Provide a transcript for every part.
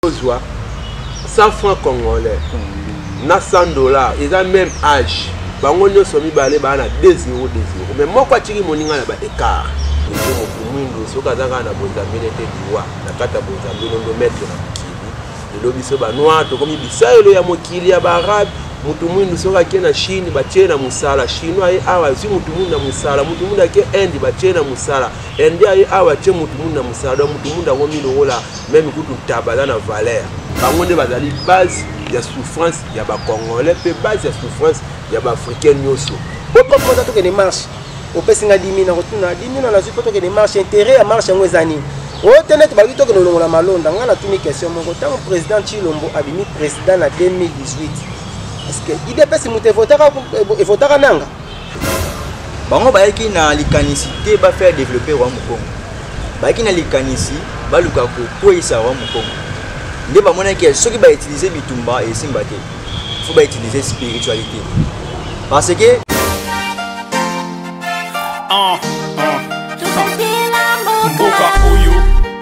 ozwa 100 francs congolais na 100 dollars eza même âge bango nyonso mibale baa na 2 0 2 0 mais moko atiki moninga na ba écart ezo motu mwindu soki aza kaka na bozambele te liwa na kati ya bozambele ondo maître na mokili lelo biso banoir tokomi bisaelo ya mokili ya baarabe motu mwindu soki ake na chine batie na mosala chinois aye awa azwi motu mwindu na mosala motu mwindu ake inde batie na mosala inde aye awa atie motu mwindu na mosala donc motu mwindu akomi lokola meme kutu taba aza na valeur bango nde bazali base ya souffrance ya bacongolais mpe base ya souffrance ya baafricain nyonso otokoza tokende marche opesi nga dimi na kotuna dimi na nazwi mpo tokende marche intérêt ya marche yango eza nini oyo te neti baluki tokende olongola malonda ngai natuni question moko ntango président chilombo abimi président na 2018 parceke idps moto evotaka nanga bango bayaki na likanisi te bafaire développe roi mokongo bayaki na likanisi baluka kokweisa roi mokongo nde bamonaki ya soki bautilize bitumba esimba te fo bautilize spiritualité parce que uh, uh, uh. mboka oyo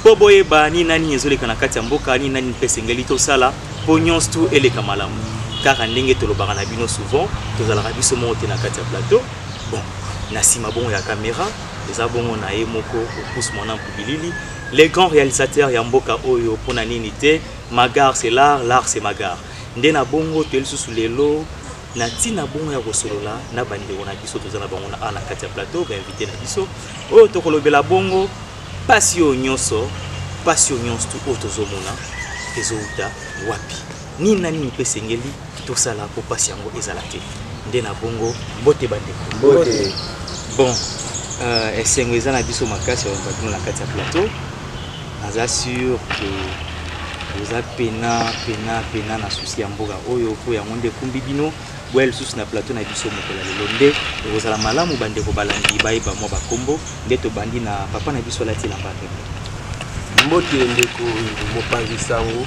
mpo boyeba nini na nini ezoleka na kati ya mboka nini na nini mpe esengeli tosala mpo nyonso tu eleka malamu kaka ndenge tolobaka na bino souvent tozalaka biso moko te na kati ya plateau bon na nsima bongo ya kamera eza bongo na ye moko opus mwana mpubilili le grand réalisateur ya mboka oyo mpo na nini te magar c'est l'art l'art c'est magar nde na bongo toye lisusu lelo na ntina bongo ya kosolola na bandeko na biso toza na bango na a na kati ya plateau bainvité na biso oyo tokolobela bongo Pasi oyo nyonso, pasi oyo nyonso tu oyo tozomona ezowuta wapi? Nini na nini mpe esengeli tosala mpo pasi yango ezala te? Nde na bongo, mbote bandeko. Mbote. Bon, euh, esengo eza na biso makasi ya bino na kati ya plateau. Naza sur que oza pena pena pena na susi ya mboka oyo mpo yango nde ekumbi bino. boya lisusu na plateau na biso mokolo ya lelo nde ekozala malamu bandeko balandi bayeba mwa bakombo nde tobandi na papa na biso alati elamba pembe mbote ndeko mopanzi sango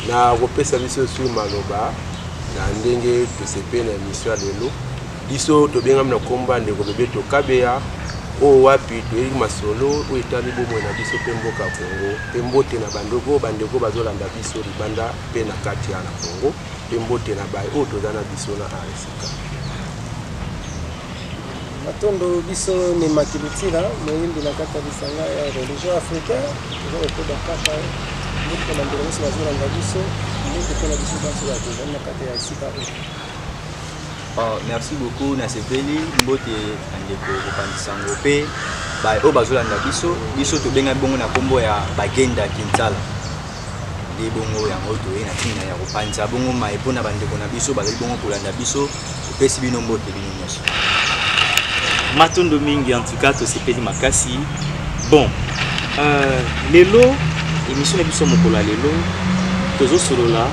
na kopesa biso sur maloba na ndenge tosepe na emission ya lelo biso tobengami na nkombo ya ndeko bebeto kabeya oyo wapi toyebi masolo oyo etali bomoi na biso mpe mboka congo mpe mbote na bandeko bandeko bazolanda biso libanda mpe na kati ya na congo Mpe mbote na baye oyo toza na biso na Aresika. Matondo biso ni Makilitila, moyimbi na kati ya lisanga ya religion africain, toza kokoba kaka mbote na mbele nyonso bazolanda biso, mbote mpe na biso banso bato ezali na kati ya esika oyo. Oh, merci beaucoup nasepeli mbote na ndeko kopanzi sango mpe baye oyo bazolanda biso biso tobengami bongo na nkombo ya bagenda kinsala nde bongo yango toye na ntina ya kopanza bongo mai mpo na bandeko na biso bazali bongo kolanda biso topesi bino mbote bino nyonso matondo mingi en tout cas tosepeli makasi bon euh, lelo émission na biso mokolo ya lelo tozosolola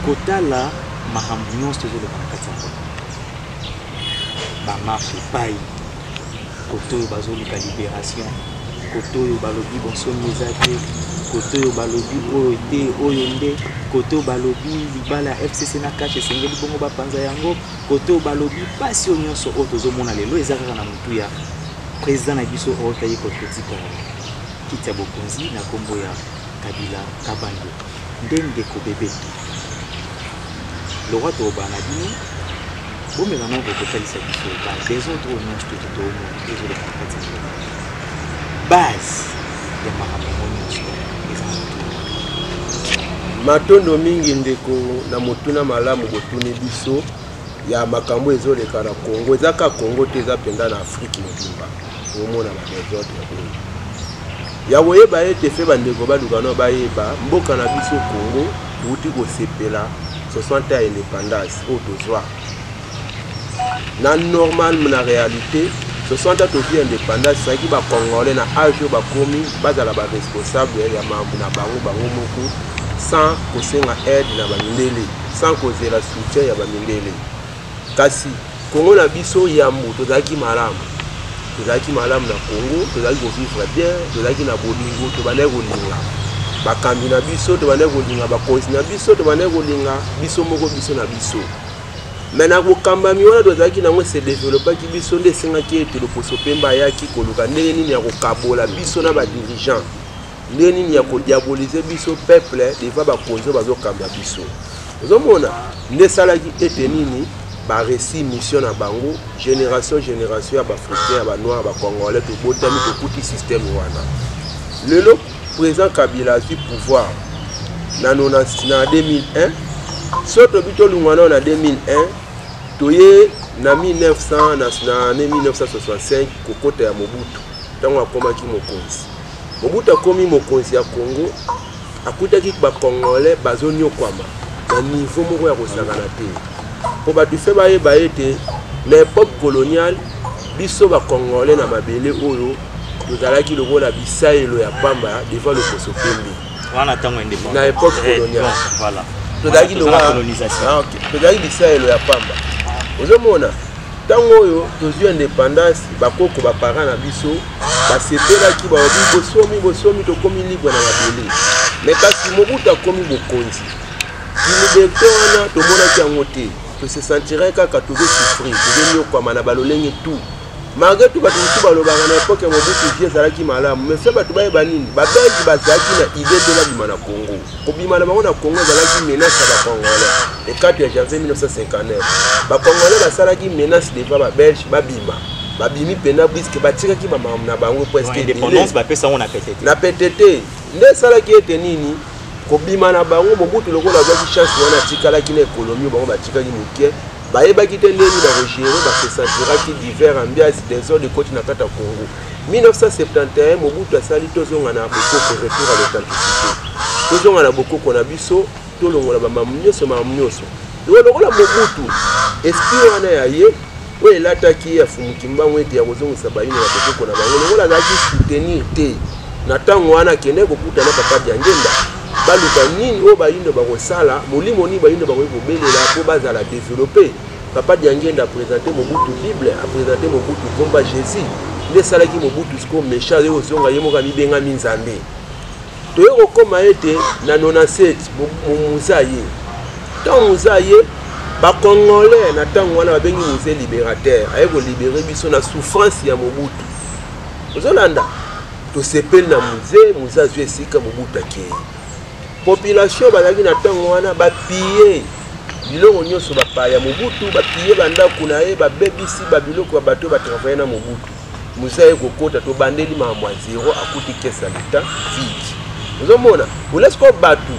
kotala makambo nyonso tozoloba na kati ya mboka bamarche epai Kotoyo bazo luka liberation kotoyo balobi bonsomi eza te kotoyo balobi oyo te oyo nde kotoyo balobi libala ya fcc na kashe esengeli bongo bapanza yango kotoyo balobi mpasi oyo nyonso oyo tozomona lelo eza kaka na motu ya président na biso oyo taye kototika kiti ya bokonzi na nkombo ya kabila kabando Nde ndeko bebeto lora toloba na bino bomeka nao kokotalisa biso ba desordre oyo nyonso toki toomona ezoleka na kati ya base ya makambo yango nyonso eza matondo mingi ndeko na motuna malamu botuni biso ya makambo ezoleka na congo eza ka congo te eza mpenza na afrike mobimba omona ba desordre oyo ya koyeba ete mpe bandeko baluka no bayeba mboka na biso congo outi kosepela 60 ya indépendance oyo tozwa na normal na réalité 60 ans tozwi indépendance ezalaki bacongolais na age oyo bakomi bazala baresponsable ya mambo na bango bango moko sans kosenga aide na bamindele sans kozela soutien ya bamindele Kasi Congo na biso yambo tozalaki malamu, tozalaki malamu na Congo, tozalaki kovivre bien, tozalaki na bolingo, tobandaki kolinga bakambi na biso, tobandaki kolinga bakonzi na biso, tobandaki kolinga biso moko biso na biso. Mais na bokambami wana tozalaki nango ese developaki biso nde esengaki ete loposo mpemba ayaki koluka ndenge nini ya kokabola biso na badirigant ndenge nini ya kodiabolize biso peuple deva bakonzi oyo bazokamba biso ozomona nde esalaki ete nini baresi mission na bango génération génération ya baafricain ya banoir bacongolais tobotami tokuti système wana lelo président kabila azwi pouvoir na 2001 so tobi tolungwa nao na 2001 toye na 1900 na 1965 kokota ya mobutu ntango akomaki mokonzi Mobutu akomi mokonzi ya Congo, akutaki ba Congolais bazonyokwama na niveau moko ya kosakana te, mpo bato fe bayeba ete na epoque coloniale biso ba Congolais na mabele oyo tozalaki lokola bisaelo ya pamba devant lokoso pembe wana ntango indépendance na epoque eh, coloniale voilà tozalaki lokola ah, tozalaki bisaelo ya pamba ozomona ntango oyo tozwi independance bakoko bapara na biso basepelaki balobi bosomi bosomi tokomi libre na mabele me kasi mobutu akomi bokonzi kiliberte wana tomonaki yango te tose sentirai kaka tozosufri tozonyokwama na balolenge tout malgré tout bato mosusu balobaka na epoke ya mobutu vie ezalaki malamu me fe bato bayeba nini babelgi bazalaki na idee te babima na congo kobima na bango na congo ezalaki menace ya bacongolais ekato ya janvier 1959 bacongolais basalaki menace devant babelge babima babimi mpena briske batikaki bamamu na bango na pete te nde esalaki ete nini kobima na bango mobutu lokola azwaki chance wana atikalaki na ekonomi bango batikaki moke bayebaki te ndenge bakogere basesaturaki divers ambiance desordre ekoti na kati ya congo 1971 mobutu asali tozonga na bokoko retour à l'authenticité tozonga na bokoko na biso tolongola bamamu nyonso mamu nyonso loko lokola mobutu esprit wana ya ye oyo elataki ye afumuki mbango ete ya kozongisa bayini na bokoko na bango lokola azalaki soutenir te na ntango wana akendaki kokuta na papa diangenda baluka nini oyo bayindo bakosala molimo nini bayindo bakoki kobelela mpo bazala developpe Papa Diangenda a présenter Mobutu Bible, a présenter Mobutu combat Jésus. Nde esalaki Mobutu sikoyo méchant aye kozonga ye moko amibengami Nzambe. Toye kokoma ete na 97 moza ye. Ntango moza ye bacongolais na ntango wana babengi musée libérateur aye kolibere biso na souffrance ya mobutu ozolanda tosepeli na musée musée azwi esika mobutu akei population bazalaki na ntango wana bapiye Biloko nyonso bapaya. Mobutu bapiye bandako na ye, babebisi babiloko ya bato oyo batravaye na Mobutu. Moise aye kokota, tobandeli makambo ya zero, akuti kese ya leta vide. Ozomona olesi ko bato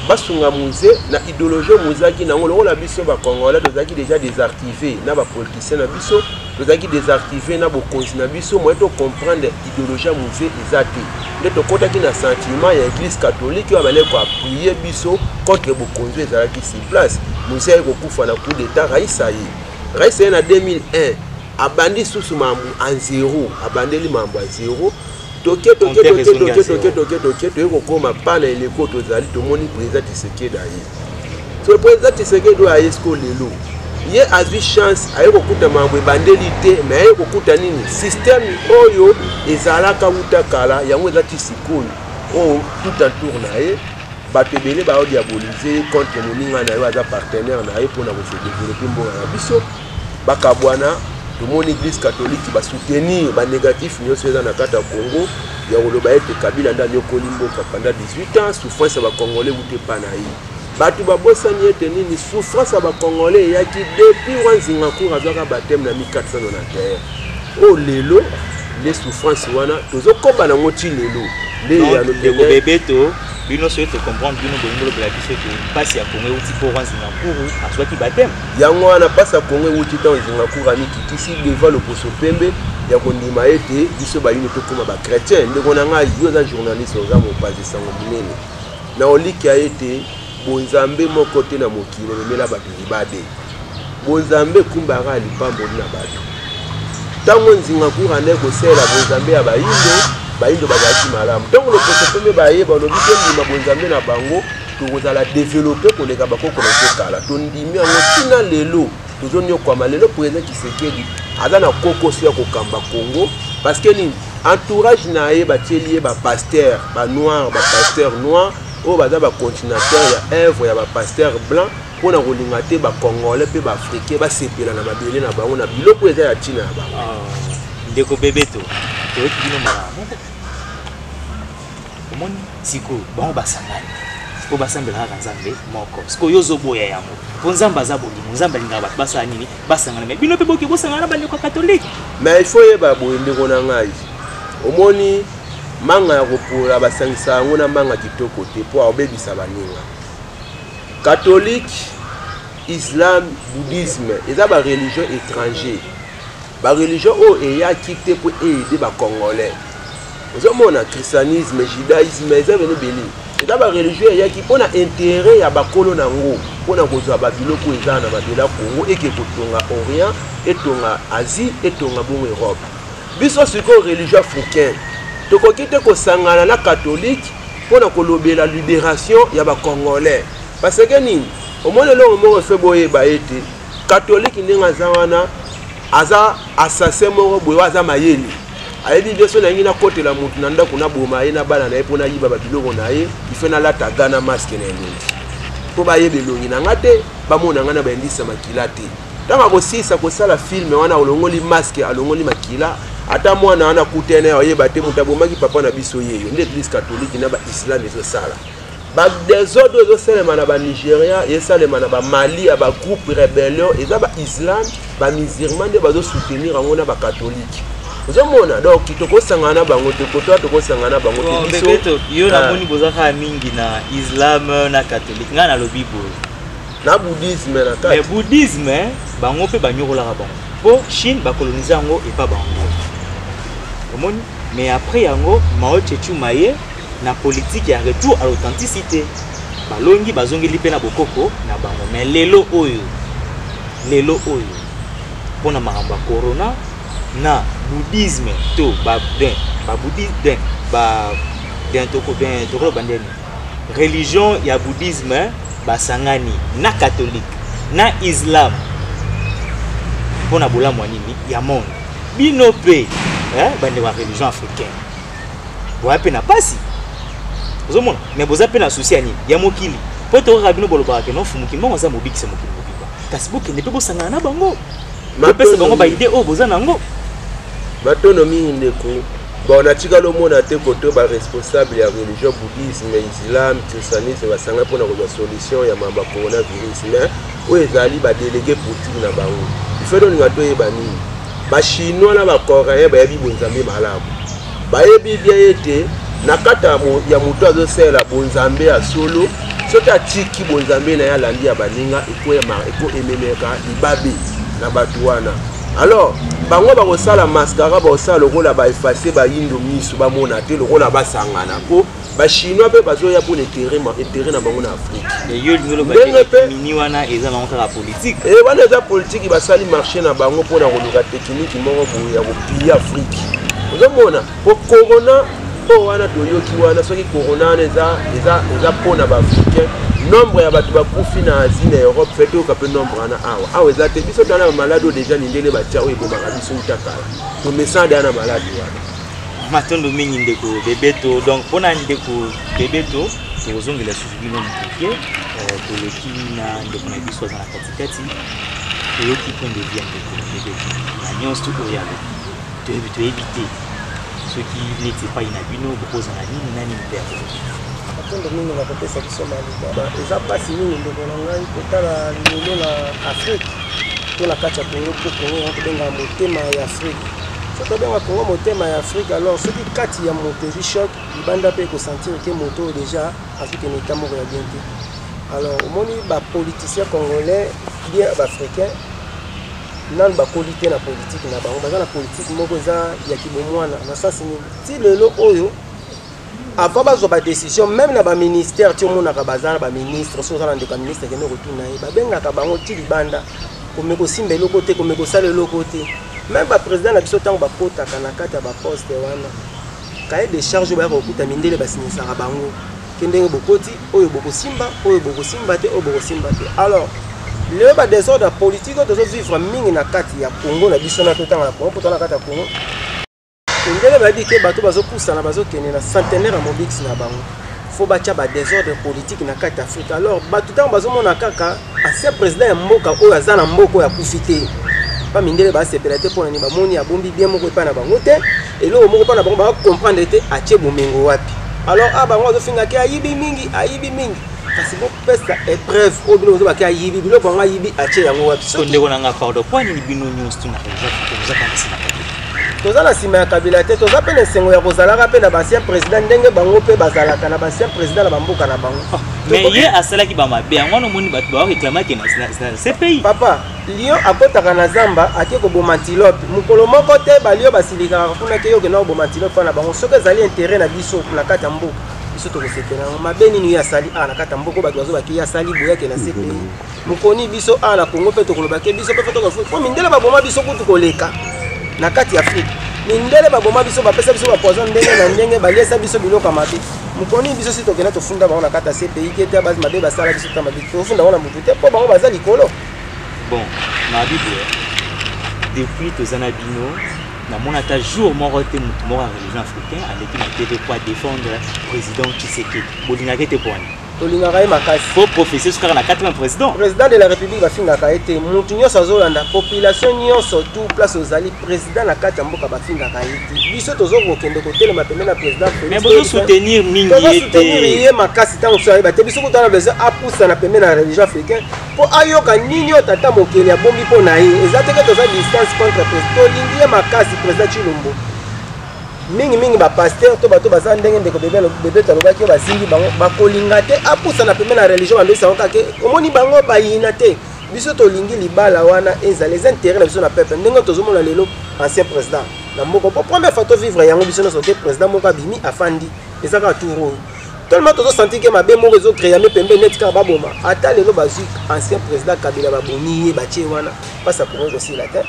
basunga Moise na ideologie Moise aki nango, lokola biso ba Congolais tozalaki deja desartive na bapoliticien na biso tozalaki desactive na bokonzi na biso moye tocomprendre idéologie ya muze eza te nde tokɔtaki na sentiment ya église catholique oyo abandaki koappuye biso contre bokonzi oyo ezalaki sur place muze aye kokufa na coup d'état raisa ye raisa ye na 2001 abandi susu mambo a zero abandeli mambo a zero toke toke toke toke toke toke toke toye kokoma pa na eleko tozali tomoni président tisekeda ye Le président Tshisekedi oyo aye sikoyo lelo ye azwi chance aye kokuta makambo ebandeli te me aye kokuta nini systeme oyo ezalaka wuta kala yango eza ti sikoyo oyo oh, tout en tour na ye bato ebele baodiabolize ye contre moninga na yo aza partenaire na ye mpo na kosedevelope mboka na biso bakabwana tomoni eglise catholique basoutenir banégatif nyonso eza na kati ya congo ya koloba ete kabila nde anyokoli mboka panda 18 ans souffrance ya bacongolais wuta epa na ye bato babosani ete nini souffrance ya bacongolais eyaki depuis wa nzinga cour azwaka bateme na 1491 oyo oh, lelo nde souffrance wana tozokoba nango ti lelo nde eyano bebeto bino soki tocomprendre bino bolingi lobela biso ete mpasi ya kongo euti mpo wa nzinga cour azwaki bateme yango wana mpasi ya kongo ewuti ntango zingakur amikitisi devant loposo pembe ya kondima ete biso bayini tokóma bachrétien ndeko na ngai yo oza journaliste oza mopanzi sango monene na olikia ete bonzambe moko te na mokili ememela bato libade bonzambe ekumbaka ya lipamboli na bato ntango nzingakur andai kosalela bonzambe ya bayindo bayindo bazalaki malamu ntango loposo pembe baye balobi tondima bonzambe na bango tokozala develope koleka bakoko na biso kala tondimi yango ntina lelo tozonyokwama lelo président kisekedi aza na kokoso ya kokamba congo parce que nini entourage na ye batieli ye bapaster banoir bapaster noir oyo baza bacontinataire ya œuvre ya bapaster blanc mpo na kolinga te bacongolais mpe baafricain basepela na mabele na bango na biloko eza ya ntina ya bango ah, ndeko bebeto toyoki bino malamu omoni sikoyo bango basangani mpo basambelaka kaka nzambe moko sikoyo yo ozoboya yango mpo nzambe aza bolingo nzambe alingaka bato basala nini basangana me bino mpe boke bosangana na bandeko ya katolike me ifo oyeba boye ndeko na ngai omoni manga ya kopola basangisa yango na manga kitoko te mpo aobebisa baninga katolike islam bouddhisme eza bareligion étranger bareligion oyo eyaki te mpo eyede bacongolais ozomona christianisme judaisme eza bene ebele eza bareligion eyaki mpo na intere ya bakolo na yango mpo na kozwa babiloko eza na mabele ya congo eke kotonga orient etonga asie etonga bongo europe biso sikoyo religion africain tokoki te kosangana na katholike mpo na kolobela liberation ya bacongolais parce ke nini omoni eloko moko efe boyeba ete katholike ndenge aza wana aza assassin moko boye aza mayele ayebi bien so nalingi nakotela motu na ndako naboma ye na bana na ye mpo nayiba babiloko na ye ife nalata ga na maske na elongi mpo bayeba elongi na nga te bamona nga na bayindisa makila te ntango akosilisa kosala filme wana alongoli maske alongoli makila ata mwana wana akutene oyeba te moto abomaki papa na biso yeyo nde eglise katolike na baislame ezosala ba desordre ezo salema na ba Nigeria esalema na ba Mali ya ba groupe rebellion eza ba Islam ba musulman nde bazo soutenir yango na ba catholique ozomona donc tokosangana na bango te kotoa tokosangana na bango te biso yo namoni ah. boza kaka mingi na islam na catholique ngai nalobi boye na bouddhisme na kati mais bouddhisme bango mpe banyokolaka bango mpo chine bakolonise yango epa bango omoni mais après yango mao chechu maye Na politique ya retour à l'authenticité, balongi bazongeli mpe na bokoko na bango. Mais lelo oyo, lelo oyo, mpo na makambo ya corona na bouddhisme to ba den, ba bouddhisme den, ba den toko den toko ba den, religion ya bouddhisme basangani na catholique na islam mpo na bolamu ya nini ya monde bino mpe eh, bandeko ya religion africaine boya mpe na mpasi ozomona me boza mpe na susi ya nini ya mokili mpo tokaka bino bolobaka ke nofumu kimbango aza mobikisa mokili mobimba kasi bokende mpe bosangana na bango bopesa bango baide oyo boza na yango matono mingi ndeko bon natikali omona te koto baresponsable ya religion bouddhisme islam christianisme basanga mpona kozwa solution ya mambo ya coronavirus mais oyo ezali ba delege politique na bango ifele olinga toyeba nini bachinois na bacoréen bayebi bonzambe malamu bayebi bien ete na kati ya moto azosalela bonzambe ya solo soki atiki bonzambe na ye alandi ya baninga ekoememeka libabe na bato wana alors bango bakosala mascara bakosala lokola baefase bayindo miso bamona te lokola basangana mpo ba chinois pe bazo ya pour intérêt ma intérêt na bango na Afrique mais yo lingolo ba pe mini wana eza bango kaka politique eh wana eza politique ba sali marché na bango pour na koluka technique moko boye ya ko piller Afrique ozo mona po corona po wana toyoki wana soki corona wana eza eza eza po na ba africain nombre ya bato bakufi na asie na europe fe toyoka mpe nombre wana awa awa eza te biso tala bamaladi oyo deja mindele batya oyo ebomaka biso uta kala tomesana deya na maladi wana matondo mingi ndeko bebeto donc mpona ndeko bebeto tokozongela susu bino moke euh, toleki na ndeko na biso aza na katikati toyoki point de vie ya ndeko bebeto na nyonso oyo alobi toyebi toyebi te soki neti epai na bino bokozala nini na nini mpe akolobi matondo mingi na kopesa biso maloba eza mpasi mingi ndeko na ngai kotala lelo na afrike to na kati ya kongo mpo kongo ya kobenga motema ya afrike soki obenga congo motema ya afrique alors soki kati ya moto ezwi choc libanda mpe ekosentire ke moto oyo déjà azwi kende eta moko ya bien te alors omoni bapoliticien congolais bien baafricain nanu bakoli te na politike na bango baza na politike moko eza ya kibomwana na sasi nini ti lelo oyo avant bazwa badécision meme na baministère ti omonaka baza na baministre soki oza na ndeko ya ministre kende kotuna ye babengaka bango ti libanda kome kosimba eloko te kome kosala eloko te meme baprésident na biso ntango bakotaka na kati ya baposte wana kaye de charge oyo bayaka kokuta mindele basinisaka bango ke ndenge bokoti oyo bokosimba oyo bokosimba te oyo bokosimba te alors lelo badésordre ya politike oyo tozovivre mingi na kati ya congo na biso na totanga na congo mpo toza na kati ya congo ndenge bayebi ke bato bazopusana bazokende na centenaire ya mobikisi na bango fo batya badesordre politike na kati ya afrika alors bato ntango bazomona kaka ancien président ya mboka oyo aza na mboka oyo akufi te pa mindele basepela te mpona nini bamoni abombi bien moko epai na bango te eloko moko mpo na bango bakokomprendre te atie bomengo wapi alors a ah, bango bazofingaki ayibi mingi ayibi mingi kasi bopesa epreuve oyo bino bozo bake ayibi biloko yango ayibi atie yango wapi so ndeko na nga pardon mpo nini bino nyonso tuna ozaka na nsima toza na nsima ya kabila te toza mpe na esengo ya kozalaka mpe na bancien président ndenge bango mpe bazalaka na bancien président na bamboka na bango ah, mais ye asalaki bamabe yango wana omoni bato bareklamaki na cpi papa lion akotaka na zamba ake koboma antilope mokolo moko te balio basilikaka kuna ke yo okenda koboma antilope wana na bango soki ezali intérêt na biso na kati ya mboka biso tokosepela yango mabe nini ye asali awa na kati ya mboko bato bazobaki ye asali boyake na cpi mokoni biso awa na congo mpe tokoloba ke biso mpe mpe tokofuti mpo mindele baboma biso kutu koleka na kati ya afrike mindele baboma biso bapesa biso bapoison ndenge na ndenge baliesa biso biloko ya mabe mokoni biso si tokenda tofunda bango na kati ya cpi te te basi mabe basala biso ta mabe tofunda bango na motu te mpo bango baza likolo bon mabibo depuis toza na bino namona ata jour moko te motu moko ya religion africain aleki na tv mpo adefendre président tshisekedi bolingaka ete mpo wana tolingaka ye makasi fo professeur sukaka na 80 président président de la république bafingaka ye te motu nyonso azolanda population nyonso tout place ozali président na kati ya mboka bafingaka ye te biso tozokokende kotelema pembe na président mais bozosoutenir mingi ye te ye makasi ntango mosusu ayeba te biso kutu wana besoin apusana pembe na religion africain mpo ayoka nini oyo tata mokeli abombi mpo na ye eza teke toza distance contre président tolingi ye makasi président chilombo mingimingi bapaster to bato baza ndenge ndeko bebeto alobaki oyo bazingi bango bakolinga te apusana pembe na religion bamesi yango kake omoni bango bayina te biso tolingi libala wana ezala eza intérêt na biso na peuple ndenge tozomona lelo ancien président na moko mpo première fois tovivre yango biso nyonso te président moko abimi afandi eza kaka tour oyo tellement tozo sentir ke mabe moko ezo creame pembe neti kaka baboma ata lelo bazwi ancien président kabila babomi ye batie wana mpasi ya kongo ekosila te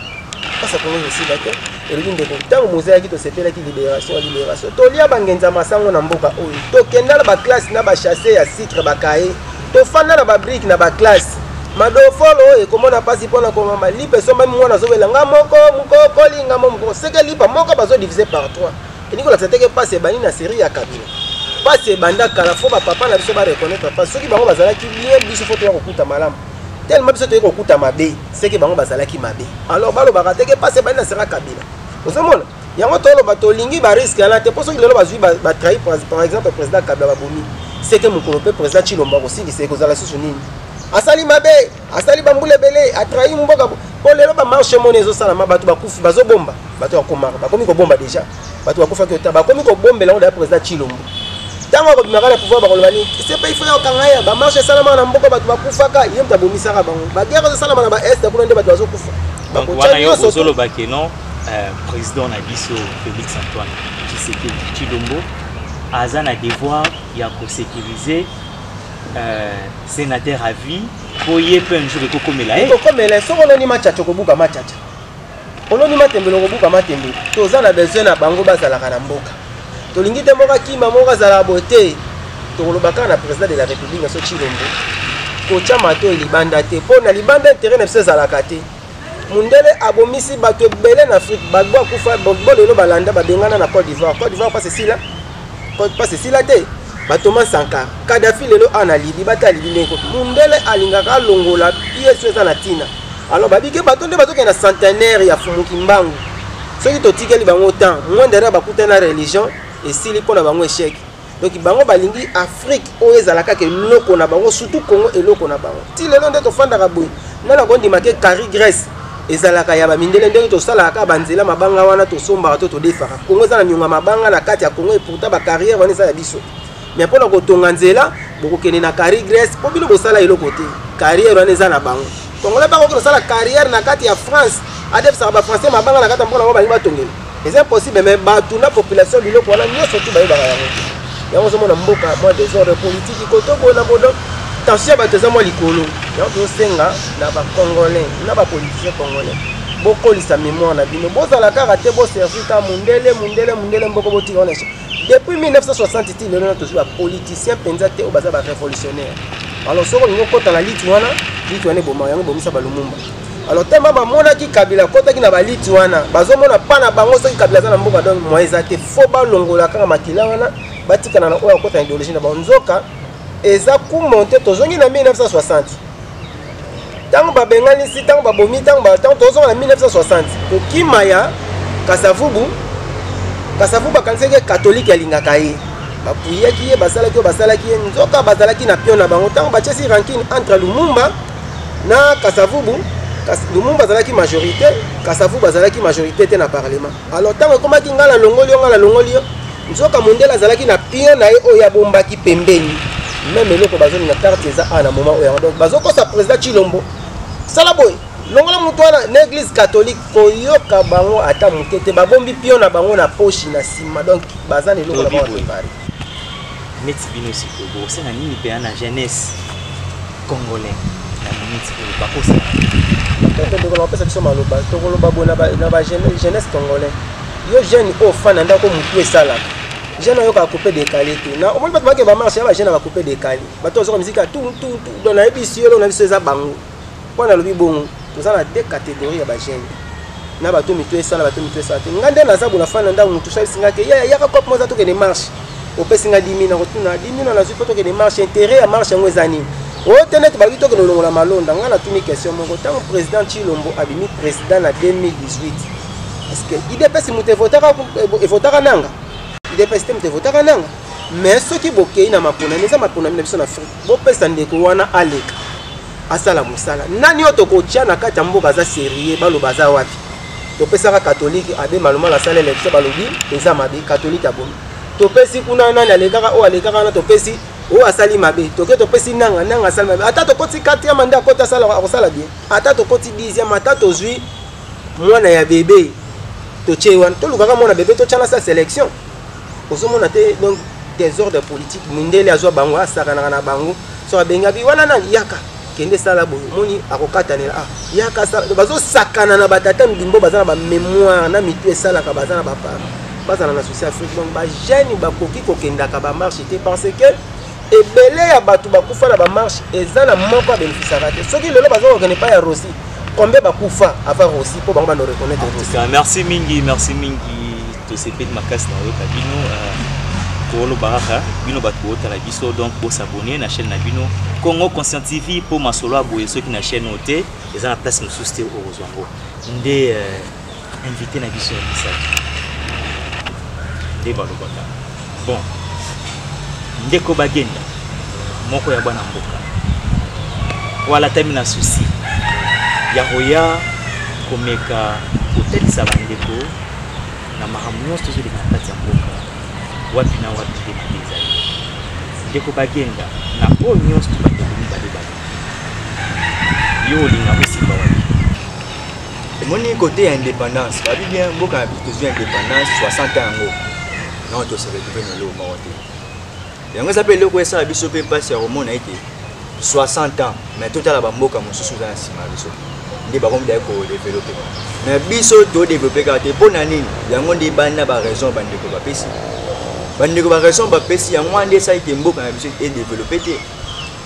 mpasi ya kongo ekosila te elobi ndeko ntango mozalaki tosepelaki libération ya libération tolia bangenza masango na mboka oyo tokenda na baklasse na bachasse ya sucre bakaye tofanda na babrike na baklasse madofolo oyo ekomona mpasi mpo na komama lipa esombami mwana azobela nga moko mokokoli nga mo mokoko seke lipa moko bazodivise par 3 elingi kolakisa te ke mpasi ebandi na serie ya kabila mpasi ebanda kala fo bapapa na biso bareconnaitre mpasi soki bango bazalaki bien biso fo toya kokuta malamu telema biso toyei kokuta mabe seke bango bazalaki mabe alors balobaka te ke mpasi ebandi na serie ya kabila ozomona yango toloba tolingi bariske yana te mpo soki lelo bazwi batrahi par exemple président kabila babomi seke mokolo mpe président chilombo akosilisa ekozala lisusu nini asali mabe asali bambula ebele atrahi mboka mpo lelo bamarche moni ezosalama bato bakufi bazobomba bato bakomaka bakomi kobomba déjà bato bakufaki ota bakomi kobombela yango daya président chilombo ntango akobimaka na pouvoir bakoloba nini sepe ifo ya okanga ye bamarche esalamaka na mboka bato bakufaka ye moto abomisaka bango bagere ezosalama na baeste kuna nde bato bazokufa bakotya nyonso ozoloba ke non euh, président na biso félix antoine tshisekedi chilombo aza na devoir ya kosécurise Euh, sénateur à vie po ye mpe un jour ekokomela ye ekokomela soki oloni machacha okobuka machacha oloni matembele okobuka matembele toza na besoin na bango bazalaka na mboka tolingi te moko akima moko azalaka boye te tokoloba kaka na président de la république na so chilombo kotya mato libanda te mpo na libanda intérêt na biso ezalaka te Mundele abomisi bato ebele na Afrique. Gbagbo akufa, Gbagbo lelo balanda babengana na Cote d'Ivoire. Cote d'Ivoire pasi sila. Cote pasi sila te. Ba Thomas Sankara, Kadhafi lelo ana libi bata libi ndeko. Mundele alingaka longola pièce eza na tina. Alors babi ke bato nde bazokenda centenaire ya Fumu Kimbangu. Soki totikeli bango temps, mwendere bakutana religion esili mpo na bango échec. donc bango balingi afrique oyo ezala kaka eloko na bango surtout congo eloko na bango ti lelo nde tofandaka boye nga nakondima ke carri grèce ezalaka ya bamindele ndenge tosalaka kaka banzela mabanga wana tosombaka to todefaka kongo eza na nionga mabanga na kati ya kongo epourtant bacarrière wana eza ya biso mais mpo na kotonga nzela bokokende na carri grèce mpo bino bosala eloko te carrière wana eza na bango Congolais bako kino sala carrière na kati ya France, adef saka ba français mabanga na kati ya mboka na bango balingi batongela. C'est impossible mais bato na population biloko wana nyonso tu bayebaka yango. Yango ozomona mboka mwa desordre politique koto boye na bodo tension ya bato eza mwa likolo. Yango tozosenga na ba congolais na ba politiciens congolais bokolisa mémoire na bino bozala kaka te boservir ka mundele mundele mundele mboko botika wana depuis 1960 ti lelo na tozwi bapoliticien mpenza te oyo baza barévolutionnaire alors soki olingi okota na liti wana liti wana eboma yango ebomisa balumumba alors tellement bamonaki kabila akotaki na baliti wana bazomona mpa na bango soki kabila aza na mboka donc moyen eza te fo balongola kaka makila wana batikana na oyo akota na idéologie na bango nzoka eza kumonte tozongi na 1960 ntango babenganisi ntango babomi ntango ntango tozonga na 1960 kokima ya kasavubu kasavubu akanisaki katolike alingaka ye bapuyaki ye basalaki oyo basalaki ye nzoka bazalaki na pio na bango ntango batiesi rankine entre lumumba na kasavubu lumumba azalaki majorité kasavubu azalaki majorité te na parlement alors ntango ekomaki ngai nalongoli yo ngai nalongoli yo Nzoka mondele azalaki na pion na ye oyo abombaki pembeni meme eloko bazoni na carte eza a na moment oyo yango donc bazokosa président chilombo sala boye longola moto wana na église catholique koyoka bango ata moke te babombi pio na bango na poshi na nsima donc baza na eloko na bango prépare neti bino sikoyo bokosala nini mpena na jeunesse Congolais na minute oyo bakosala bakende ndeko na kopesa biso maloba tokoloba boye na ba jeunesse congolais yo jeune oyo fana ndako motu esalaka jeune oyoka coupe décalé te na omoni bato bake bamarche ya bajeune ya coupe décalé bato bazoka miziki ya tututu don nayebisi yo eloko na biso eza bango mpo nalobi bongo toza na deux catégorie ya bagene na bato mitu esala bato mitu esala te ngai nde naza bola fani na ndako motu salisi ngai ke yaya yaka kope moza tokende marche opesi ngai dimi na kotuna dimi na nazwi mpo tokende marche intérêt ya marche yango eza nini oyo te neti balobi tokende olongola malonda ngai natuni question moko ntango président chilombo abimi président na 2018 parceke idps moto evotaka eh, nanga idps te moto evotaka nanga mais soki bokei na maponami eza maponami na biso na afrique bopesa ndeko wana aleka asala mosala nani oyo tokotya na kati ya mboka aza serie baloba aza wapi topesaka katolike abe malomalo asala election balobi eza mabe katolike abomi topesi kuna nani alekaka oyo alekaka wana topesi oyo asali mabe toke topesi nanga nanga asali mabe ata tokoti 4 manda akoti akosala bien ata tokoti 10 ata tozwi mwana ya bebe totye wana tolukaka mwana bebe totyana sa selection ozomona te donc desordre politique mindele azwa bango asakanaka na bango so abengi abi wana nani yaka kende sala boye omoni akokatanela ah yaka sala bazosakana na batata mbimbo baza na bamémoire na mitu esalaka baza na bapara bazala na souci afrique donc bajeune bakoki kokendaka bamarche te parce que ebele ya bato bakufa na bamarche eza na moko abenefisaka te soki lelo baza kokende epai ya rosi combien bakufa avant rosi mpo bango bano reconnaître merci mingi merci mingi tosepeli makasi na oyoka bino koloba kaka bino bato boota na biso donc bosabone na chaîne na bino congo conscient tv mpo masolo ya boye soki na chaîne oyo te eza na place mosusu te okozwa yango nde euh, invité na biso ya misato nde balobaka bon ndeko bagenda moko ya bana mboka oyo alatami na susi ya koya komeka kotalisa bandeko na makambo nyonso tozoleka na kati ya mboka wapi na wapi nde mabe ezali ndeko bagenda na oyo nyonso bandeko mibale bale yo olinga osimba wapi omoni kote ya indépendance babi bien mboka na biso tozwi indépendance 60 yango non toseretrouve na eloko moko te yango eza mpe eloko esala biso mpe mpasi ya komona ete 60 ans mais totala bamboka mosusu eza na nsima ya biso nde bango midai kodevelope mais biso todevelope kaka te mpo na nini yango nde ebandi na baraison bandeko bapesi bandeko baraison bapesi yango wana nde esala ete mboka na biso edevelope te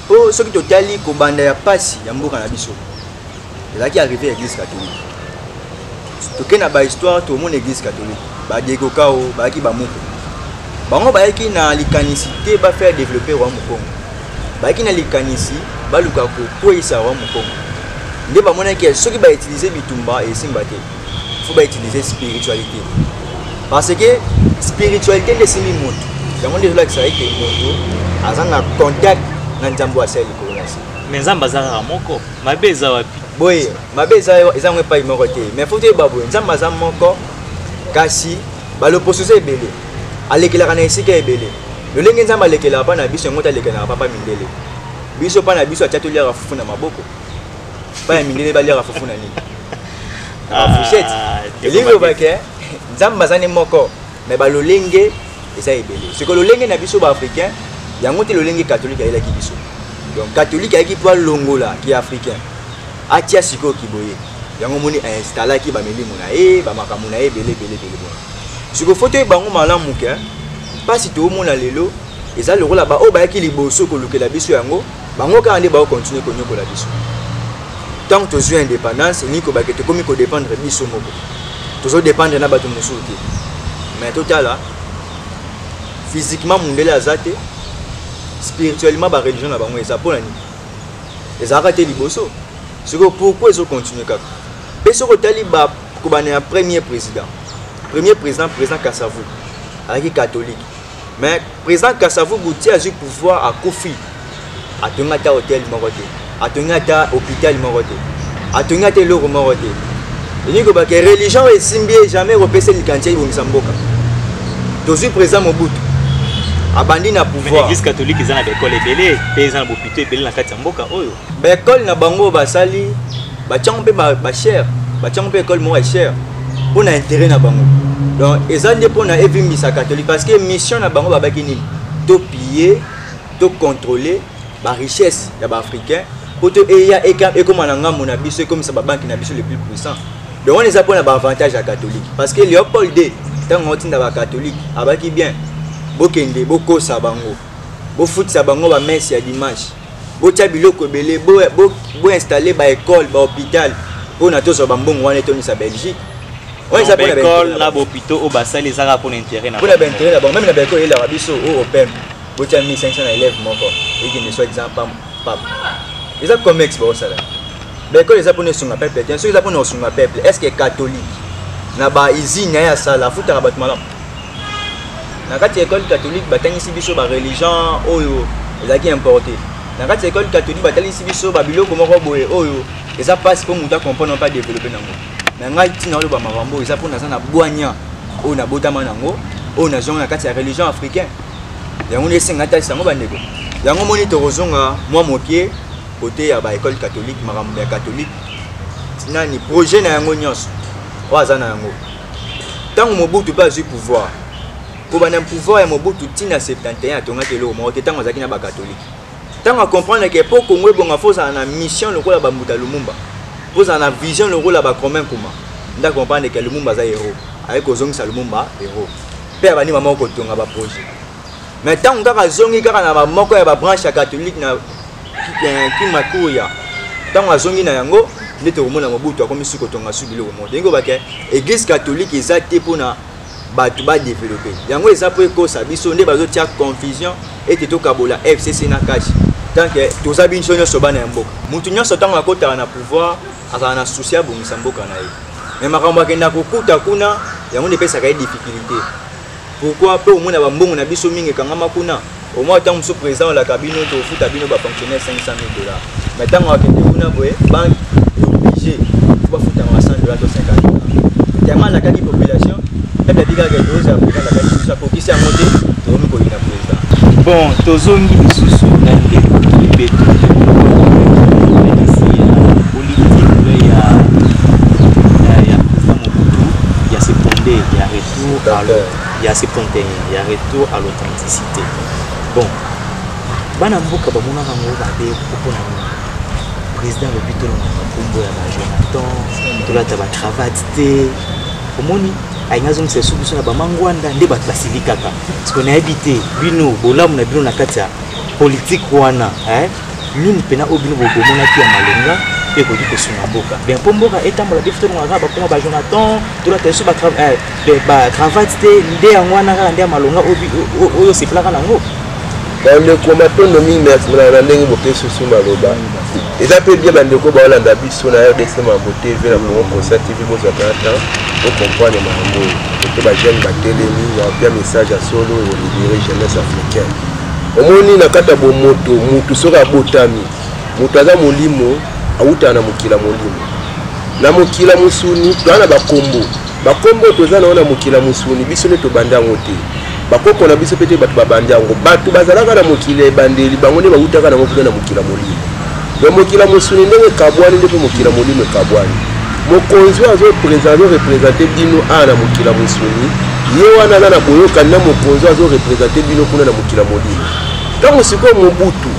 mpo soki totali kobanda ya mpasi ya mboka na biso ezalaki arrivé ya église catholique toke na bahistoire tomona église catholique badegokao bayaki bamoko bango bayaki na likanisi te bafaire développer roi mokongo bayaki na likanisi baluka kokweyisa roi mokongo nde bamonaki ya soki bautilize bitumba esimba te fo bautilize spiritualité parce que spiritualité nde esimbi moto yango nde ezolakisa ete moto aza na contact na nzambe asali likolo na se me nzambe aza kaka moko mabe eza wapi boye mabe eza eza ngo epai moko te mais faut toyeba boye nzambe aza moko kasi baloposo eza ebele alekelaka na esika ebele lolenge nzambe alekelaka mpa na biso yango te alekelaka papa mindele biso mpa na biso atya toliaka fufu na maboko mpa ya mindele baliaka fufu na nini na bafushete ah, elingi obake nzambe aza ne moko mais ba lolenge eza ebele siko lolenge na biso ba africain yango te lolenge catholique ayelaki biso donc catholique ayaki mpo alongola ki africain atia sikoyo kiboye yango omoni ainstallaki bamilimo na ye bamakambo na ye ebele ebele ebele bona siko fo toyeba yango malamu ke mpasi toomona lelo eza lokola baoyo bayaki liboso kolukela biso yango bango kaka nde bao continue konyokola biso ntango tozwi indépendance elingi kobake tokomi kodépendre biso moko tozodépendre na bato mosusu te mais totala physiquement mundele aza te spirituellement bareligion na bango eza mpo na nini ezalaka te liboso sikoyo pourkui ezocontinue kaka mpe soki otali bakobana ya premier président premier président président kasavu azalaki catholique mais président kasavubu ti azwi pouvoir akufi atongi ata hotel moko te atongi ata hôpital moko te atongi ata eloko moko te elingi koloba ke religion oyo esimbi ye jamais ekopesa likanisi ya ebongisa mboka tozwi président mobutu abandi na pouvoir église catholique eza na baekole ebele mpe eza na bopito ebele na kati ya mboka oyo ba école na bango oyo basali batyango mpe bachere batyango mpe école moko ya chere mpo na intérêt na bango donc eza nde mpo na evimbisa catholique parce que mission na bango babaki nini topille tocontrôle barichesse ya baafricain mpo to eya ekóma na ngambo na biso ekomisa babanki na biso le plus puissant donc wana eza mpo na baavantage ya catholique parce que léopold d ntango aotinda bacatholique abaki bien bokende bokosa bango bofutisa bango bamese ya dimanche botia biloko ebele boinstalle baekole bahôpital mpona tozwa bambongo wana etondisa belgique baekole na bahôpitaux oyo basali eza kaka mpona intérêt na mpona baintérêt na bango meme na baekole eyelaka biso o opem botia 1500 na élève moko ekende soit disant papa eza comex baosala baekole eza mpona esunga peuple te soki eza mpona kosunga peuple est ce que catholique na bausine na ye asala afutaka bato malamu na kati ya école catholique batangisi biso ba religion oyo ezalaki importe na kati ya école catholique batalisi biso babiloko moko boye oyo eza mpasi mpo moto acomprendre mpe adeveloppe nango na ngai ntina oloba makambo oyo eza mpo naza na bwania oyo nabotama nango oyo nazonga na kati ya religion africain yango nde esenga talisa yango bandeko yango moni tokozonga mwa moke kote ya baekole catholique makambo ya catholique nani projet na yango nyonso oyo aza na yango ntango mobutu mpe azwi pouvoir kobanda pouvoir ya mobutu ntina 71 atongaki eloko moko te ntango azalaki na bakatolike ntango acomprendre ke mpo kongo ebonga fo ozala na mission lokola bambuta lumumba mpo ozala na vision lokola bacromin nkuma nde acomprendre ke lumumba aza hero ayaki kozongisa lumumba hero mpe abandi mama okotonga baprojet me ntango kaka azongi kaka na bamoko ya babranche ya katholike na kimakuya ntango azongi na yango nde tokomona mobutu akomisi kotonga su biloko moko toyingi obake église catholique eza te mpona bato badevelope yango eza mpo ekosa biso nde bazotia confusion ete tokabola fcc na kashi tanke toza binso nyonso bana ya mboka moto nyonso ntango akotaka na pouvoir azala na susi abongisa mboka na ye me makambo akenda kokuta kuna yango nde epesaka ye difficulté pourquoi mpe omona bambongo na biso mingi ekangama kuna omoi ntango mosusu président olaka bino tofuta bino bafonctionnaire 500 000 dollars mais ntango akende kuna boye banque oblige fo bafutama 100 dollars to 50 dollars tellement alakaki population peuple abikaka edoze ya président alakaki biso akokisi yango te tokomi koyina président bon tozongi lisusu na ndeko kibeto retour à il y a 71 il y a retour à l'authenticité bon bana mboka bamonaka yango babe mpona nini président alobi tolongaka nkombo ya bajonathan tolata bacravate te omoni alingi azongisa esu biso na bamangwanda nde bato basilikaka parceke nayebi te bino bolamu na bino na kati ya politike wana eh? nini mpena oyo bino bomonaki ya malonga mpe ekoki kosunga mboka bien mpo mboka etambola biso tolongaka bakoma bajonathan tolata biso bacravate eh, te nde yango wana kaka nde ya malonga oyo osepelaka nango bandeko matondo mingi merci na ndenge bopesi biso maloba eza mpe bie bandeko baolanda biso na rdc mambo tv na congo concert tv bozwaka na temps ocomprendre makambo oyo ote bajeune batelemi yapia message ya solo olibere jeunesse africaine omoni na kati ya bomoto motu soki abotami moto aza molimo awutaka na mokili ya molimo na mokila mosuni toza na bakombo bakombo oyo toza na yango na mokila mosuni biso nde tobandi yango te bakoko na biso mpe te bato babandi yango bato bazalaka na mokili ya ebandeli bango nde bautaka nango kuna na mokila molimo ya mokila mosuni ndenge ekabwani nde mpe mokila molimo ekabwani mokonzi oyo azorepresente bino awa na mokila mosuni ye wana aza na boyokani na mokonzi oyo azorepresente bino kuna na mokila molimo ntango sikoyo mobutu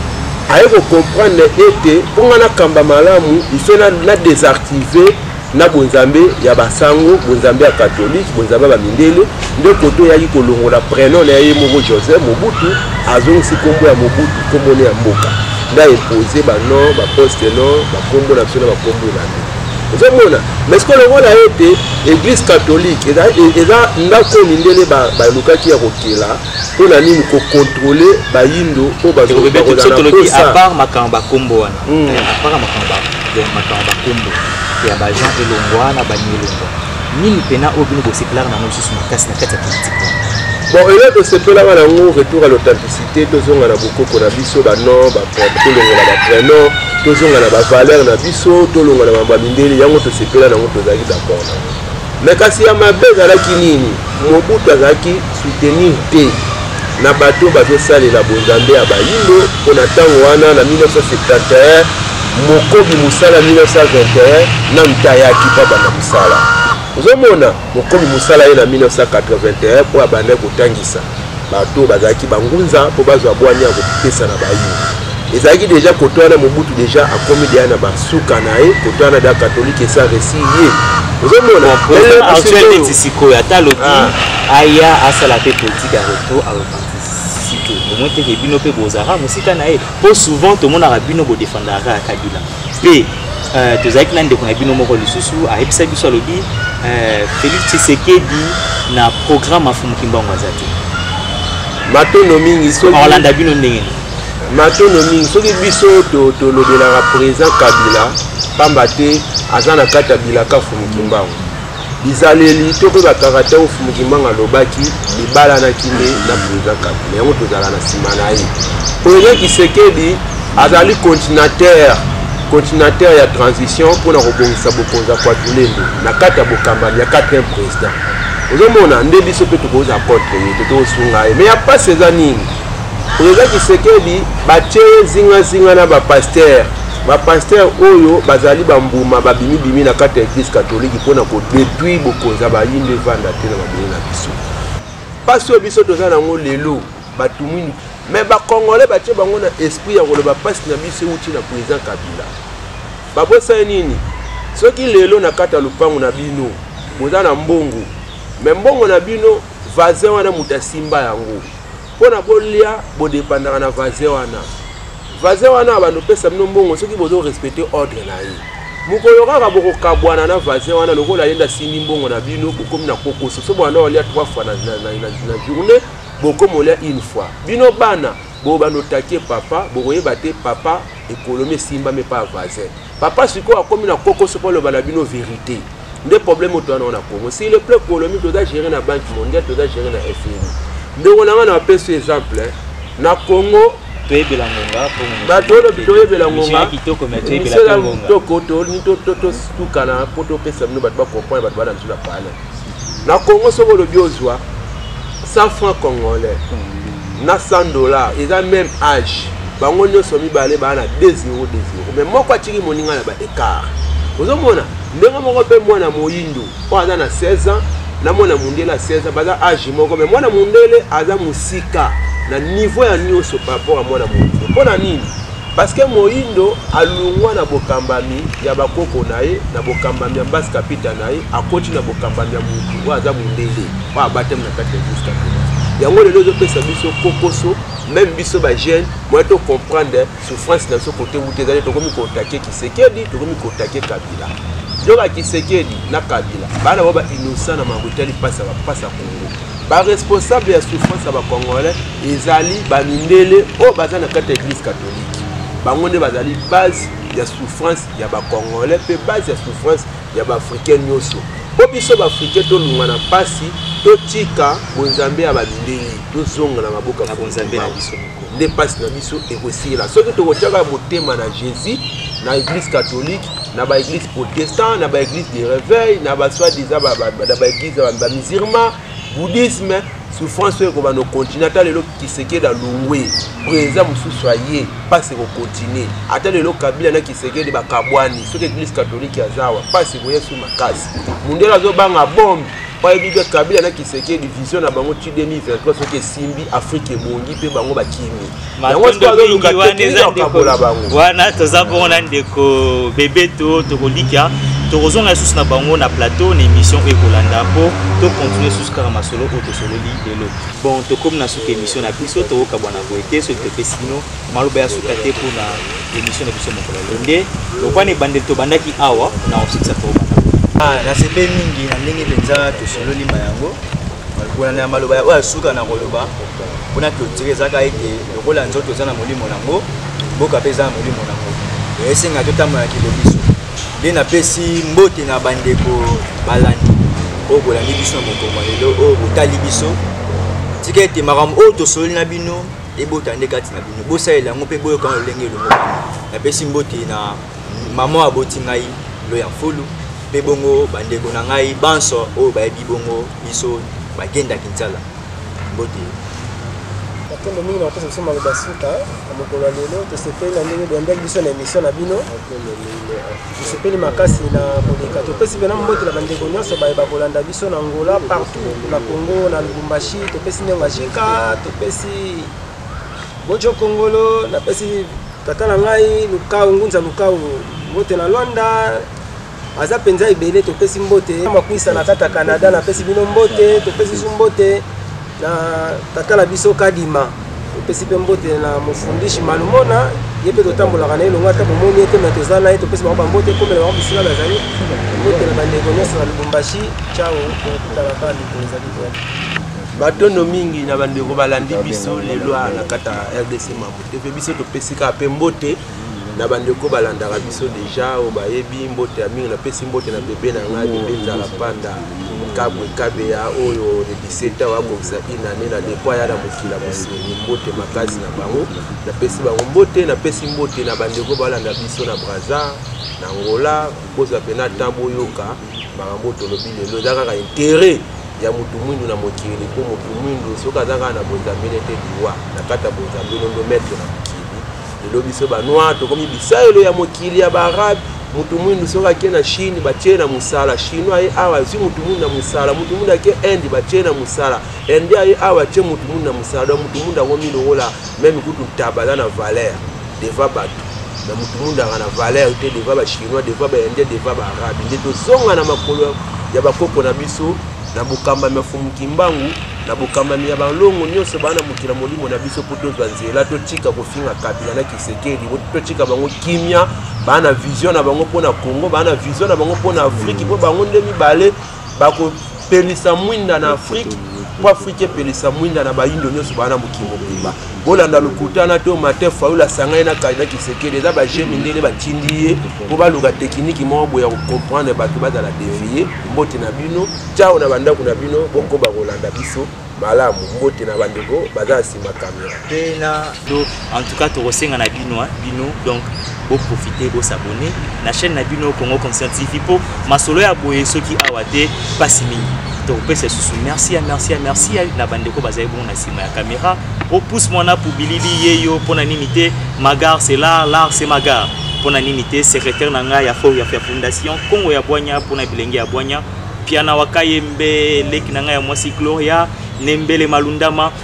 aye ko comprendre ete mpo ngai nakamba malamu ife na, na desactive na bonzambe ya basango bonzambe ya katolike bonzambe ya bamindele nde koto eyaki kolongola prenom na ye moko joseph mobutu azongisi nkombo ya mobutu nkombo ne ya mboka nde aepose banon baposte non bankombo na biso na bankombo elandi ozomona mais sikoyo lokola ete eglise catholique eza ndako oyo mindele balukaki ya kokela mpo na nini kokontrole bayindo oyo bazobebetosotoloki apart makambo bakombo wana hmm. eh, apart makambo makambo bakombo ya bajean elongwa na bani elongwa nini mpena oyo bino bosepelaka nango lisusu makasi na kati ya politike bon eloko tosepelaka nango retour à l'authenticité tozonga na bokoko na biso banon tolongola baprenom tozonga na bavaleur na biso tolongola mambo ya mindele yango tosepela nango tozalaki d'accord nango me kasi ya mabe ezalaki nini mobutu azalaki soutenir te na bato bazosalela bonzambe ya bayindo mpo na ntango wana na 1971 mokobi mosala 1921 na ntayaki mpo abanda mosala ozomona mokobi mosala ye na 1981 mpo abandaki kotangisa bato oyo bazalaki bangunza mpo bazwa bwanya ya kopesa na bayini ezalaki deja koto wana mobutu deja akomi deya na basuka na ye koto wana da katolike esa resi ye ozomonaactuelneti sikoyo ata alobi ah. aya asala mpe politike ya retour a repartisite omoi teke bino mpe bozalaka mosika na ye mpo souvent tomonaka bino bodefandaka ya kabila mpe uh, tozalaki na ndeko na bino moko lisusu ayebisa biso alobi uh, félix tshisekedi na programme afumu kimbangu aza te matono mingi olanda bino ndenge nini matono mingi soki biso tolobelaka to président kabila mpamba te aza na kati ya bilaka fumukimbangu Bizaleli to mpe bakaraktère oyo Fumu Kimbangu alobaki bibalanaki nde na president Kabila, yango tozala na nsima na ye. President Kisekedi azali continuateur continuateur ya transition mpona kobongisa bokonzi ya Kwatulembo na kati ya bokambami ya 4e president. Ozomona nde biso mpe tokozala contre ye te, tokosunga ye. Mais ya mpasi eza nini? President Kisekedi batie ye zingazinga na bapaster bapastere oyo bazali bambuma babimibimi na kati ya eglise katolike mpo na kodetruire bokonzi ya bayinde evanda te na mabele na biso mpasi oyo biso toza nango lelo bato mwindu me bacongolais batye bango na esprit ya koloba mpasi na biso euti na président kabila babosani nini soki lelo na kati ya lopango na bino boza na mbongo me mbongo na bino vazin wana moto asimba yango pona bolia bodepandaka na vase wana vase wana abando pesa bino mbongo soki bozo respecte ordre na ye mokolo kaka bokokabwana na vase wana lokola yende asimbi mbongo na bino bokomi na kokoso so banda olia trois fois na, na, na, na, na journée bokomi olia une fois bino bana bobanda otake papa bokoyeba te papa ekolomi esimbami epa vase papa sikoyo akomi na kokoso mpo aloba na bino verite nde problème oyo towana na congo si le plan économique toza géré na banque mondiale toza géré na fmi ndeko na nga na bapesi exemple na congo toyebela ngonga bato oyo lobi toyebela ngonga kitoko totukana mpo topesa bino bato bakomprendre bato bana biso na pale na congo soki olobi ozwa 100 franc congolais na 100 dollar eza même age bango nyonso mibale baa na 2 0 2 0 mais moko atiki moninga na ba écart ozomona ndenge moko mpe mwana moyindo oyo aza na 16 ans na mwana mondele ya 16 ans baza age moko mai mwana mondele aza mosika na niveau ya nyonso par rapport ya mwana moyindo mpo na nini parceke moyindo alongwa na bokambami ya bakoko na ye na bokambami ya mbasi kapita na ye akoti na bokambami ya motu oyo aza mondele oyo abatami na kati ya mbasi kapita yango lelo ezopesa biso kokoso meme biso bajeune moye tocomprendre souffrance na biso kote wuti ezali tokomi kotake kisekedi tokomi kotake kabila yoka kisekedi na kabila bana bao bainosa na makambo etali mpasi ya bapasi ya kongo baresponsable ya souffrance ya bacongolais ezali bamindele oyo baza na kati ya eglise katholike bango nde bazali base ya souffrance ya bacongolais mpe base ya souffrance ya baafricain nyonso mpo biso baafricain tolunga na mpasi totika bonzambe ya bamindele tozonga na maboko ya bonzambe na biso nde mpasi na biso ekosila soki tokotyaka motema na jésus na église catholique na baéglise protestant na baéglise de réveil na baswadisa na baéglise ya bamusulman bouddhisme souffrance oyo ekobanda okontinue ata lelo kisekedi alongwe président mosusu aye mpasi ekokontinue ata lelo kabila na kisekedi bakabwani soki église catholique azawa mpasi ekoya su makasi mondele azobanga bombe oye bibi ya kabila na kisekedi vision na bango ti 2023 soki esimbi afrika ebongi mpe bango bakimi yango soki azoluka tekeakabola bango wana toza bongo na ndeko bebeto tokolika tokozonga lisusu na bango na plateau na émission oyo ekolanda mpo tokontinue lisusu kaka masolo oyo tosololi lelo bon tokomi na suka émission na biso tokokabwana boye te soki topesi bino maloba ya suka te mpo na emission na biso mokolo lelo nde lokola na ebandeli tobandaki awa na osikisa tobanda ah, nasepeli mingi na ndenge mpenza tosololi ma yango kolanda ya maloba oyo ya suka na koloba mpona clotire ezaka ete lokola nzoto eza na molimo nango mboka mpe eza na molimo nango esenga totambola kilo biso nde napesi mbote na bandeko balandi oyo bolandi biso na mokongo lelo oyo botali biso tika ete makambo oyo tosololi na bino ebota nde kati na bino bosalela yango mpe boyoka na lolenge elongo napesi mbote na mama aboti ngai loya mfulu mpe bongo bandeko na ngai banso oyo bayebi bongo biso bagenda kinsala mbote matombo mingi na kopesa biso maloba suka na mokolo ya lelo tosepeli na ndenge boyambaki biso na emission na bino tosepeli makasi na koleka topesi mpena mbote na bandeko nyonso baye bakolanda biso na ngola partout na congo na lubumbashi topesi ndenge ajika topesi bojo kongolo napesi tata na ngai lukau ngunza lukau mbote na lwanda aza mpenza ebele topesi mbote makwisa na kata canada napesi bino mbote topesi su mbote na tata na biso kadima topesi mpe mbote na mofundishi malumona ye mpe totambolaka na ye longo ata bomoni ye te me toza na ye topesi bango bambote ekomela bango bisika bazali mbote na bandeko nyonso na lubumbashi cao tokutana kaka mikolo ezali koya batondo mingi na bandeko balandi biso lelo na kata rdc mambo te mpe biso topesi kaka mpe mbote na bandeko oyo balandaka biso deja oyo bayebi mbote ya mingi napesi mbote na bebe na ngai bebe nzala panda kabwe kabeya oyo le 17 awa akokisa inane na leko aya na mokila mosili mbote makasi na bango napesi bango mbote napesi mbote na bandeko balanda biso na braza na ngola kozwa mpena temps boyoka makambo tolobi lelo eza kaka intere ya motu mwindu na mokili mpo motu mwindu soki aza kaka na bozambe nete liwa na kati ya bozambe nondo metre na lelo biso banoir tokomi bisaelo ya mokili ya baarabe motu mwindu soki ake na chine batie na mosala chinois aye awa azwi motu mwindu na mosala motu mwindu ake inde batie na mosala inde aye awa atie motu mwindu na mosala donc motu mwindu akomi lokola meme kutu ntaba aza na valeur deva bato na motu mwindu aka na valeur te deva bachinois deva baindien deva baarabe nde tozonga na makolo ya bakoko na biso na bokambami ya fumukimbangu na bokambami ya balongo nyonso baa na mokili ya molimo na biso mpo tozwa nzela totika kofinga kabila na kisekeli totika bango kimia baa na vision na bango mpo na congo baa na vision na bango mpo na afriki mpo bango nde mibale bakopelisa mwinda na afriki mpo afriki epelisa mwinda na bayindo nyonso baa na mokili mobimba bolanda lokuta na to matin fayola asangani na kandida tshisekedi eza baje mindele batindi ye mpo baluka tekiniki moko boye ya kocomprendre bato bazala devie mbote na bino tiao na bandako na bino bokoba kolanda biso malamu mbote na bandeko baza na nsima kamera te na to en tout cas tokosenga na bino bino donc bo profiter bo s'abonner na chaîne na bino Congo Conscient TV po masolo ya boye soki awa te pasi mingi to pesa susu merci ya merci ya merci ya na bande ko bazali bon na sima ya caméra o pousse moi na poubilili yeyo pona nini te magar c'est là là c'est magar pona nini te secrétaire na ngai ya fo ya fondation Congo ya Boanya pona bilenge ya Boanya piana wakayembe leki na ngai ya mwasi Gloria nembele malundama